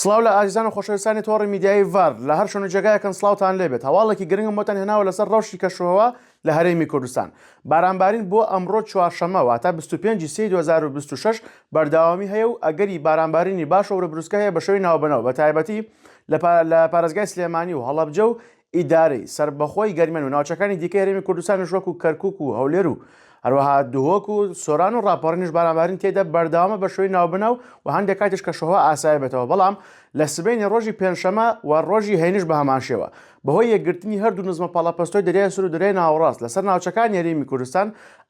سڵاو لە ئازیزان و خۆشەویستانی تۆڕی میدیایی ڤەرد لە هەر شوێن و جێگایەکن سڵاوتان لێ بێت هەواڵێکی گرنگم بۆتان هێناوە لەسەر ڕەوشی کەشوهەوا لە هەرێمی کوردستان بارانبارین بۆ ئەمڕۆ چوارشەممە واتە بیست و پێنج ی سێی دوو هەزار و بیست و شەش بەرداوامی هەیە و ئەگەری بارانبارینی باش و ورە بروسکە هەیە بە شەوی ناوبەنەوە بە تایبەتی لە پارێزگای سلێمانی و هەڵەبجە و ئیدارەی سەربەخۆی گەرمیان و ناوچەکانی دیکەی هەرێمی کوردستانیش وەکو کەرکوک و هەولێر و هەروەها دهۆک و سۆران و ڕاپەڕینیش بارانبارین تێدا بەردەوامە بە شێوەی ناوبناو و هەندێک کاتیش کەشوهەوا ئاسایە بێتەوە بەڵام لە سبەینێ ڕۆژی پێنجشەمە و ڕۆژی هەینیش بە هەمان شێوە بەهۆی یەکگرتنی هەردوو نزمە پەڵەپەستۆی دەریای سور و دەریای ناوەڕاست لەسەر ناوچەکانی هەرێمی کوردستان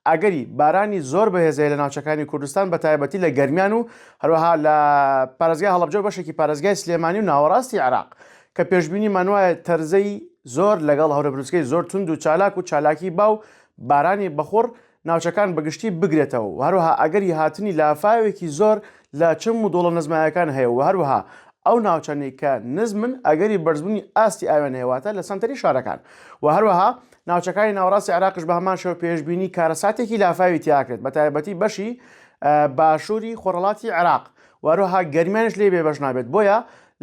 ئەگەری بارانی زۆر بەهێز هەیە لە ناوچەکانی کوردستان بە تایبەتی لە گەرمیان و هەروەها لە پارێزگای هەڵەبجە و بەشێکی پارێزگای سلێمانی و ناوەڕاستی عێراق کە پێشبینیمان وایە تەرزەی زۆر لەگەڵ هەورەبروسکەی زۆر توند و چالاک و چالاکی با و بارانی بەخوڕ ناوچەکان بەگشتی بگرێتەوە و هەروەها ئەگەری هاتنی لافاوێکی زۆر لە چم و دۆڵە نزمەکان هەیە و هەروەها ئەو ناوچانەی کە نزمن ئەگەری بەرزبوونی ئاستی ئاویان هەیە واتە لە سەنتەری شارەکان و هەروەها ناوچەکانی ناوەڕاستی عێراقیش بە هەمان شێوە پێشبینی کارەساتێکی لافاوی تیا کرێت بە تایبەتی بەشی باشووری خۆرهەڵاتی عێراق و هەروەها گەرمیانش لێ بێبەش نابێت بۆیە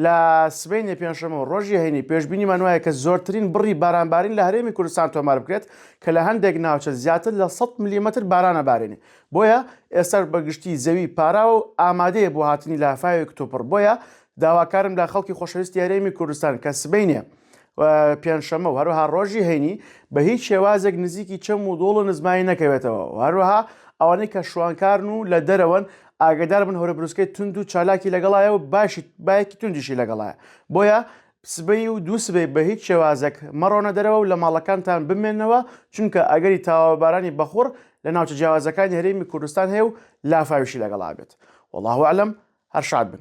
لە سبەینێ پێنجشەممە و ڕۆژی هەینی پێشبینیمان وایە کە زۆرترین بڕی بارانبارین لە هەرێمی کوردستان تۆمار بکرێت کە لە هەندێک ناوچە زیاتر لە 100 ملیمەتر بارانە بارێنێ بۆیە ئێستاش بە گشتی زەوی پاراوە و ئامادەیە بۆ هاتنی لافاوێک کتوپڕ بۆیە داواکارم لە خەڵکی خۆشەویستی هەرێمی کوردستان کە سبەینێ پێنجشەمە و هەروها ڕۆژی هەینی بە هیچ شێوازێک نزیکی چەم و دۆڵ و نزمایی نەکەوێتەوە هەروها ئەوانەی کە شوانکارن و لە دەرەوەن ئاگدار بن هەورە بروسکەی تونند و چالاکی لەگەڵایە و باشیت باەکی توندیشی لەگەڵایە بۆیە سبەی و دوو سبەی بە هیچ شێوازێک مەڕۆنە دەرەوە و لە ماڵەکانتان بمێنەوە چونکە ئەگەری تاوابارانی بەخوڕ لە ناوچە جیاوازەکانی هەرێمی کوردستان هەیە و لافاویشی لەگەڵا بێت والله عالم هەر شاد بن.